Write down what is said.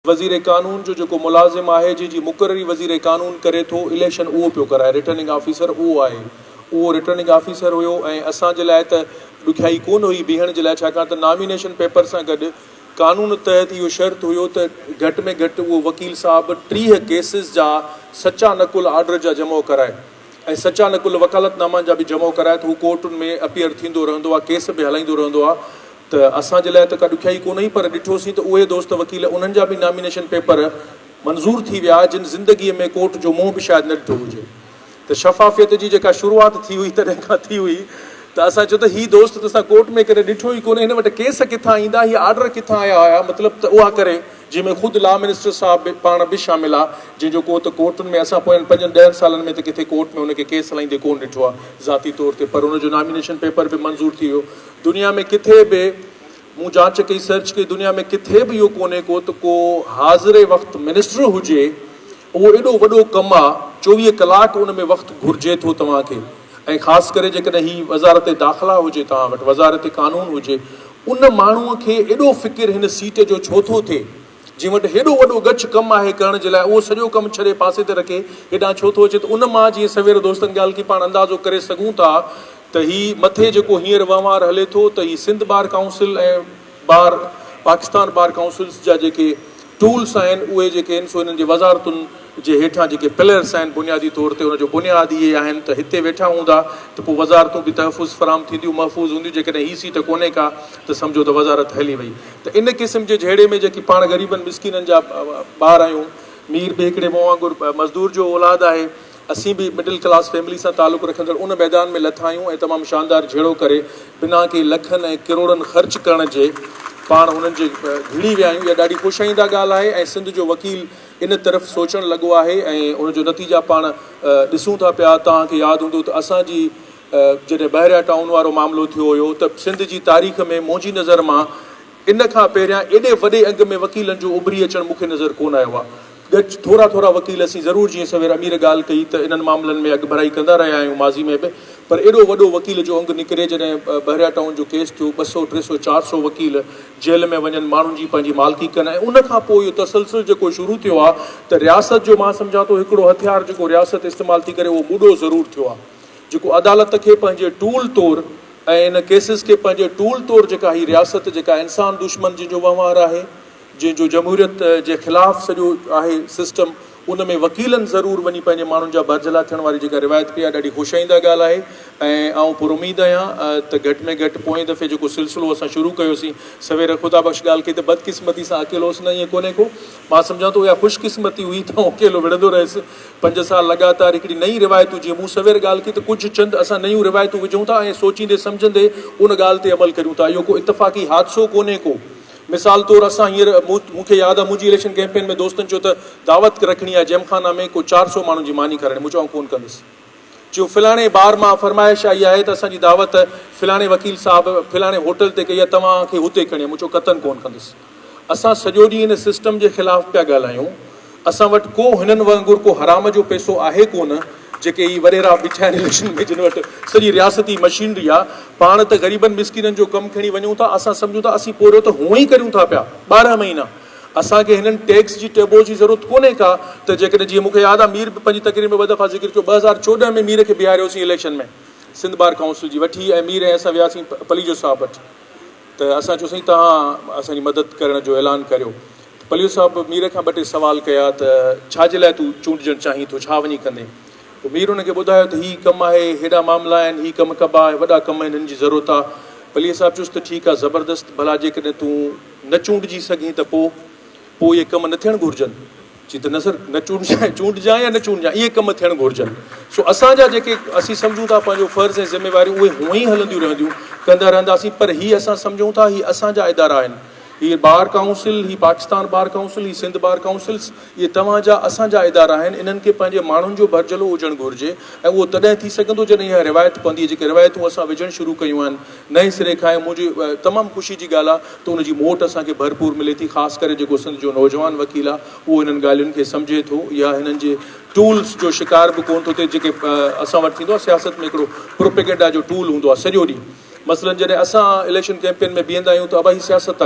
وزير قانون جو جيڪو ملازم آهي جنهن جي مقرري وزير قانون ڪري ٿو اليڪشن اهو پيو ڪرائي رٽرننگ آفيسر اهو آهي اهو رٽرننگ آفيسر هيو ۽ اسان جي لاء ته ڏکيائي ڪونه هئي بيهڻ جي لاء ڇاڪاڻ ته نامينيشن پيپر سان گڏ قانون تحت اهو شرط هيو ته گهٽ ۾ گهٽ اهو وڪيل صاحب ٽيهه ڪيسز جا سچا نقل آرڊر جا جمع ڪرائي. ۽ سچا نقل وڪالت نامن جا به جمعو ڪرائي ته هو ڪورٽن ۾ اپيئر ٿيندو رهندو آهي ڪيس به هلائيندو رهندو آهي ته اسان جي لاء ته ڪا ڏکيائي ڪونهي پر ڏٺو سين ته اهي دوست وڪيل انهن جا به نامينيشن پيپر منظور ٿي ويا جن زندگي ۾ ڪورٽ جو منهن به شايد نه ڏٺو هجي ته شفافيت جي جيڪا شروعات ٿي هئي تڏهن کان ٿي هئي ته اسان چيو ته هي دوست ته اسان ڪورٽ ۾ ڪڏهن ڏٺو ئي ڪونهي هن وٽ ڪيس ڪٿان ايندا هي آرڊر ڪٿان آيا هيا مطلب ته اها ڪري جنهن ۾ خود لا منسٽر صاحب به پاڻ به شامل آ جنهن جو ڪو ته ڪورٽن ۾ اسان پوين پنجن ڏهن سالن ۾ ته ڪٿي ڪورٽ ۾ ان کي ڪيس هلائيندي ڪون ڏٺو آ ذاتي طور تي پر ان جو نامينيشن پيپر به منظور ٿي ويو دنيا ۾ ڪٿي به مون جانچ ڪئي سرچ ڪئي دنيا ۾ ڪٿي به اهو ڪونهي ڪو ته ڪو حاضر وقت منسٽر هجي اهو ايڏو وڏو ڪم آ چوويهه ڪلاڪ ان ۾ وقت گهرجي ٿو توهان کي ۽ خاص ڪري جيڪڏهن هي وزارت داخلا هجي توهان وٽ وزارت قانون هجي ان ماڻهو کي ايڏو فڪر هن سيٽ جو ڇو ٿو ٿئي جنهن وٽ هيڏو وڏو ڳچ ڪم آهي ڪرڻ جي لاء اهو سڄو ڪم ڇڏي پاسي تي رکي هيڏانهن ڇو ٿو اچي ته ان مان جيئن سوير دوستن ڳالهه ڪئي پاڻ اندازو ڪري سگهون ٿا ته هي مٿي جيڪو هينئر وهنوار هلي ٿو ته هي Sindh bar council ۽ bar Pakistan bar councils جا جيڪي ٽولس آهن اهي جيڪي آهن سو انهن جي وزارتن جي هيٺان جيڪي پلرس آهن بنيادي طور تي ان جو بنياد اهي آهن ته هتي ويٺا هوندا ته پوء وزارتون به تحفظ فراهم ٿينديون محفوظ هونديون جيڪڏهن هي سيٽ ڪونهي ڪا ته سمجهو ته وزارت هلي وئي ته ان قسم جي جهيڙي ۾ جيڪي پاڻ غريبن مسڪينن جا ٻار آهيون مير به هڪڙي مون وانگر مزدور جو اولاد آهي اسين به مڊل ڪلاس فيملي سان تعلق رکندڙ ان ميدان ۾ لٿا آهيون ۽ تمام شاندار جهيڙو ڪري بنا ڪي لکن ۽ ڪروڙن خرچ ڪرڻ جي پاڻ هنن جي ڀيڙي ويا آهيون. اها ڏاڍي خوش آئنده ڳالهه آهي ۽ سنڌ جو وڪيل ان طرف سوچڻ لڳو آهي ۽ ان جو نتيجا پاڻ ڏسون ٿا پيا. توهان کي ياد هوندو ته اسان جي جڏهن بحريا ٽائون وارو معاملو ٿيو هيو ته سنڌ جي تاريخ ۾ منهنجي نظر مان ان کان پهريان ايڏي وڏي انگ ۾ وڪيلن جو اڀري اچڻ مون کي نظر ڪونه آيو آهي. ڳچ ٿورا ٿورا وڪيل اسين ضرور جيئن سوير امير ڳالهه ڪئي ته انهن معاملن ۾ اڳڀرائي ڪندا رهيا آهيون ماضي ۾ به پر ايڏو وڏو وڪيل جو انگ نڪري جڏهن بحريا ٽائون جو ڪيس ٿيو ٻه سؤ ٽي سؤ چار سؤ وڪيل جيل ۾ وڃن ماڻهن جي پنهنجي مالڪي ڪن ۽ ان کان پوء اهو تسلسل جيڪو شروع ٿيو آهي ته رياست جو مان سمجهان ٿو هڪڙو هٿيار جيڪو رياست استعمال ٿي ڪري اهو مڏو ضرور ٿيو آهي جيڪو عدالت کي پنهنجي ٽول طور ۽ ان ڪيسز کي پنهنجي ٽول طور جيڪا هي رياست جيڪا انسان دشمن جنهن جو وهنوار آهي جنهن جو جمهوريت جي خلاف سڄو آهي سسٽم ان ۾ وڪيلن ضرور وڃي پنهنجي ماڻهن جا برجلا ٿيڻ واري جيڪا روايت پئي آهي ڏاڍي خوشائينده ڳالهه آهي ۽ آئون پراميد آهيان ته گهٽ ۾ گهٽ پوئين دفعي جيڪو سلسلو اسان شروع ڪيوسين سوير خدا بخش ڳالهه ڪئي ته بدقسمتي سان اڪيلو هوس نه ائين ڪونهي ڪو مان سمجهان ٿو اها خوش قسمتي هئي ته آئون اڪيلو وڙهندو رهيس پنج سال لڳاتار هڪڙي نئين روايتون جيئن مون سوير ڳالهه ڪئي ته ڪجهه چند اسان نيون روايتون وجهون ٿا ۽ سوچيندي سمجهندي ان ڳالهه تي عمل ڪريون ٿا اهو ڪو اتفاقي حادثو ڪونهي ڪو مثال طور اسان هينئر مون کي ياد آ منهنجي اليڪشن ڪيمپين ۾ دوستن چيو ته دعوت رکڻي آهي جيم خانه ۾ ڪو چار سؤ ماڻهن جي ماني کارائڻي مون چيو آئون ڪون ڪندس چيون فلاڻي بار مان فرمائش آئي آهي ته اسان جي دعوت فلاڻي وڪيل صاحب فلاڻي هوٽل تي ڪئي آهي توهان کي هتي ڪرڻي آهي مون چيو قطعن ڪون ڪندس اسان سڄو ڏينهن ان سسٽم جي خلاف پيا ڳالهايون اسان وٽ ڪو هنن وانگر ڪو حرام جو پيسو آهي ڪونه جيڪي هي وريرا بيٺا آهن اليڪشن ۾ جن وٽ سڄي رياستي مشينري آ پاڻ ته غريبن مسڪينن جو ڪم کڻي وڃون ٿا اسان سمجهون ٿا اسين پورهيو ته هونء ئي ڪريون ٿا پيا ٻارهن مهينا اسان کي هنن ٽيڪس جي ٽيبو جي ضرورت ڪونهي ڪا ته جيڪڏهن جيئن مون کي ياد آ مير به پنهنجي تقرير ۾ ٻه دفعا ذڪر ڪيو ٻه هزار چوڏهن ۾ مير کي بيهاريوسين اليڪشن ۾ سنڌ بار ڪائونسل جي وٺي ۽ مير ۽ اسان وياسين پليجو صاحب وٽ ته اسان چيوسين توهان اسان جي مدد ڪرڻ جو اعلان ڪريو پليو صاحب مير کان ٻه ٽي سوال ڪيا ته ڇا جي لاء تون چونڊجڻ چاهين ٿو، ڇا وڃي ڪندين؟ پوء مير هن کي ٻڌايو ته هي ڪم آهي، هيڏا معاملا آهن، هي ڪم ڪبا ۽ وڏا ڪم آهن، هن جي ضرورت آ. پليو صاحب چيس ته ٺيڪ آ، زبردست، ڀلا جيڪڏهن تون نه چونڊجي سگهين ته پوء؟ پوء اهي ڪم نه ٿيڻ گهرجن. چي ته نه سر، نه چونڊجان، چونڊجان يا نه چونڊجان، اهي ڪم ٿيڻ گهرجن. سو اسان جا جيڪي اسين سمجهون ٿا پنهنجو فرض ۽ ذميواريون اهي هونئن ئي هلنديون رهنديون، ڪندا رهنداسين، پر هي اسان سمجهون ٿا هي اسان جا ادارا آهن، هيء بار ڪائونسل، هي پاڪستان بار ڪائونسل، هي سنڌ بار ڪائونسلز، اهي توهان جا، اسان جا ادارا آهن، انهن کي پنهنجي ماڻهن جو ڀرجهلو هجڻ گهرجي ۽ اهو تڏهن ٿي سگهندو جڏهن اها روايت پوندي، جيڪي روايتون اسان وجهڻ شروع ڪيون آهن نئين سري کان ۽ منهنجي تمام خوشي جي ڳالهه آهي ته ان جي موٽ اسان کي ڀرپور ملي ٿي خاص ڪري جيڪو سنڌ جو نوجوان وڪيل آهي اهو انهن ڳالهين کي سمجهي ٿو يا هنن جي ٽولز جو شڪار به ڪونه ٿو ٿئي جيڪي اسان وٽ ٿيندو آهي سياست ۾ هڪڙو پروپيگنڊا جو ٽول هوندو آهي سڄو ڏينهن مثلا جڏهن اسان اليڪشن ڪيمپين ۾ بيهندا آهيون ته ابا هي سياست ٿا